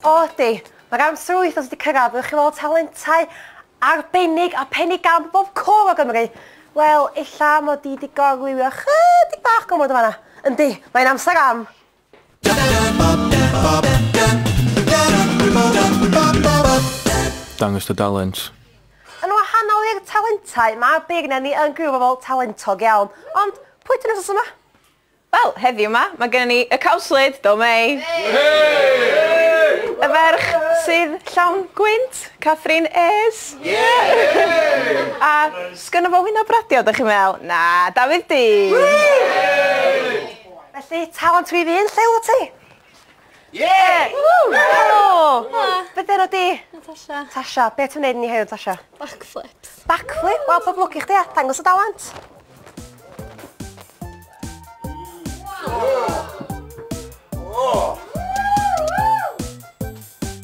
O ydi. Mae'r amser yr wythnos wedi cyrraedd, fyddwch chi'n weld talentau arbennig a phennu gan bob cwr o Gymru. Wel, ella mod i wedi gorlywio chydig bach gormod yn fanna. Yndi, mae'n amser am... Dangos dy dalent. Yn wahanol i'r talentau, mae beirniad ni yn gwirfoddol talentog iawn. Ond, pwy ydyn nhw wythnos yma? Wel, heddiw 'ma, mae gennym ni y cawslyd, do Mei! Y ferch sydd llawn gwynt, Catherine Ayres. A 'sgynno fo wyneb radio, dych chi'n meddwl? Na, Dafydd Dee! Felly, talent fi fy hun, lle wyt ti? Yeah! Helo! Be dy enw di? Natasha. Tasha, be ti'n neud ni heddiw, Tasha? Backflips. Backflip? Wel, pob lwc i chdi, a dangos y dawant.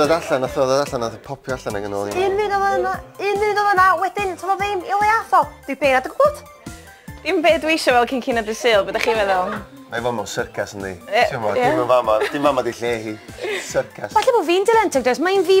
ddod allan, nath o ddod allan, nath o popio allan ag yn ôl i. Un munud oedd yna, un munud oedd yna, wedyn, ti'n meddwl ddim i le atho. Dwi beir at y gwybod. Dim be dwi eisiau fel cyn cyn at y syl, beth ydych chi'n meddwl? Mae fo mewn syrcas yn di. Ti'n meddwl, dim yn fama, dim fama di lle hi. Syrcas. Falle bod fi'n dilentog dros, mae'n fi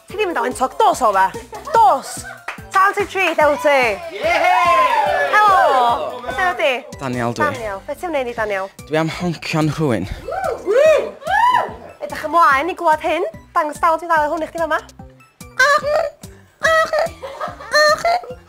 Ti ddim yn dal yn toc, dos o fe. Dos! Tal ti tri, dew ti. Helo! Beth yna di? Daniel dwi. Daniel, beth ti'n wneud i Daniel? Dwi am honcio'n rhywun. Edrych ymlaen i gwlad hyn. Dangos dal ti'n dal hwn i chdi fama.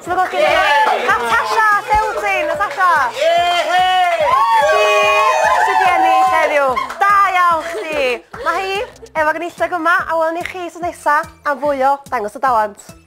Sefydlwch chi le. Natasha, lle wyt ti, Natasha? Ie! Chdi sydd wedi ennill heddiw. Da iawn chdi. Mae hi efo gynulleg yma a welwn ni chi sos nesa am fwy o Dangos y Dalent.